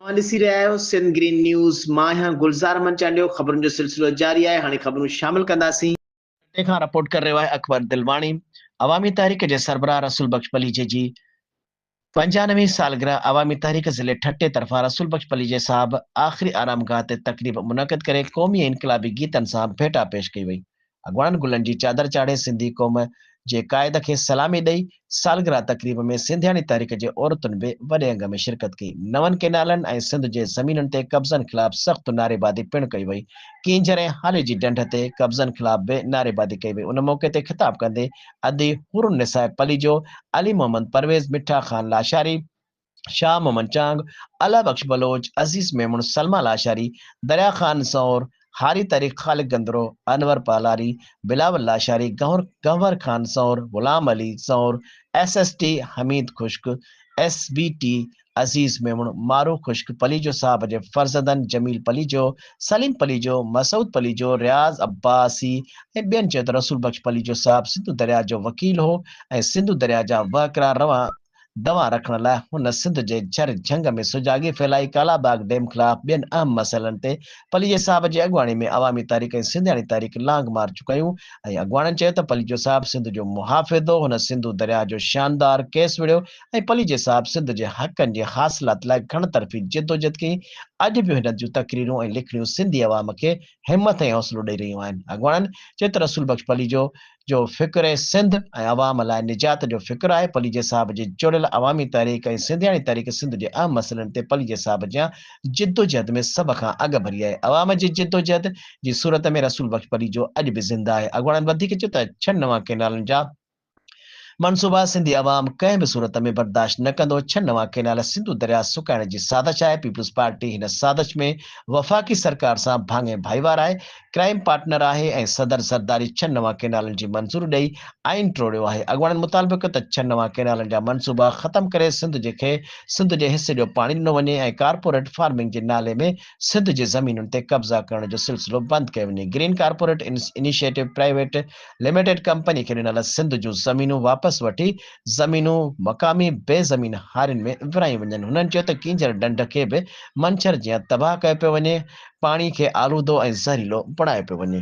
اوهان ڏسي رهيا آهيو سنڌ گرين نيوز مان آهيان گلزار احمد چانڊيو خبرن جو سلسلو جاري آهي هاڻي خبرون شامل ڪنداسين. ٺٽي کان رپورٽ ڪري رهيو آهي اڪبر دلواڻي. عوامي تحريڪ جي سربراهه رسول بخش پليجي جي پنجانوي سالگرهه عوامي تحريڪ ضلعي ٺٽي طرفان رسول بخش پليجي صاحب آخري آرامگاهه تي تقريب منعقد ڪري قومي ۽ انقلابي گيتن سان ڀيٽا پيش ڪئي وئي اڳواڻن گلن جي چادر چاڙهي سنڌي قوم جي قائد کي سلامي ڏئي سالگرهه تقريب ۾ سنڌياڻي تحريڪ جي عورتن به وڏي انگ ۾ شرڪت ڪئي نون ڪينالن ۽ سنڌ جي زمينن تي قبضن خلاف سخت نعريبادي پڻ ڪئي وئي ڪينجهر ۽ هالي جي ڍنڍ تي قبضن خلاف به نعريبادي ڪئي وئي ان موقعي تي خطاب ڪندي ادي حورالنساء پليجو علي محمد پرويز مٺا خان لاشاري شاهه محمد چانگ، الله بخش بلوچ، عزيز ميمڻ، سلمه Lashari, Darya Khan سنئور، Hari Tariq, Khaliq Gandro, Anwar Palari, Bilawal Lashari, Ghanwar Ghanwar Khan Sanwar, Ghulam Ali سنئور، S S T Hamid Khushk, S B T Aziz Memon, Maro Khushk, Palijo صاحب جي فرزندن جميل پليجو، سليم پليجو، مسعود پليجو، رياض عباسي ۽ ٻين چيو ته رسول بخش پليجو صاحب سنڌو درياهه جو وڪيل هو ۽ سنڌو درياهه جا وهڪرا روان دوان رکڻ لاء هن سنڌ جي جھر جھنگ ۾ سجاڳي ڦهلائي، ڪالاباغ ڊيم خلاف ٻين اهم مسئلن تي پليجي صاحب جي اڳواڻي ۾ عوامي تحريڪ ۽ سنڌياڻي تحريڪ لانگ مارچ ڪيون ۽ اڳواڻن چيو ته پليجو صاحب سنڌ جو محافظ هو، هن سنڌو درياهه جو شاندار ڪيس وڙهيو ۽ پليجي صاحب سنڌ جي حقن جي حاصلات لاء گھڻ طرفي جدوجھد ڪئي، اڄ به هن جون تقريرون ۽ لکڻيون سنڌي عوام کي همٿ ۽ حوصلو ڏئي رهيون آهن، اڳواڻن چيو ته رسول بخش پليجو جو فڪر سنڌ ۽ عوام لاء نجات جو فڪر آهي، پليجي صاحب جي جڙيل عوامي تحريڪ ۽ سنڌياڻي تحريڪ سنڌ جي اهم مسئلن تي پليجي صاحب جيان جدوجهد ۾ سڀ کان اڳ ڀري آهي، عوام جي جدوجهد جي صورت ۾ رسول بخش پليجو اڄ به زنده آهي، اڳواڻن وڌيڪ چيو ته ڇهن نوان ڪئنالن جا منصوبا سنڌي عوام ڪنهن به صورت ۾ برداشت نه ڪندو، ڇهه نوان ڪئنال سنڌو درياء سڪائڻ جي سازش آهي، پيپلز پارٽي هن سازش ۾ وفاقي سرڪار سان ڀاڱي ڀائيوار آهي، ڪرائم پارٽنر آهي ۽ صدر زرداري ڇهه نوان ڪئنالن جي منظوري ڏئي آئين ٽوڙيو آهي، اڳواڻن مطالبو ڪيو ته ڇهه نوان ڪئنالن جا منصوبا ختم ڪري سنڌ جي کي سنڌ جي حصي جو پاڻي ڏنو وڃي ۽ ڪارپوريٽ فارمنگ جي نالي ۾ سنڌ جي زمينن تي قبضا ڪرڻ جو سلسلو بند ڪيو وڃي green corporate initiative private limited company کي ڏنل سنڌ جون زمينون واپس وٺي زمينون مقامي بي زمين هارين ۾ ورهايون وڃن، هنن چيو ته ڪينجهر ڍنڍ کي به منڇر جيان تباهه ڪيو پيو وڃي، پاڻي کي آلودو ۽ زهريلو بڻايو پيو وڃي.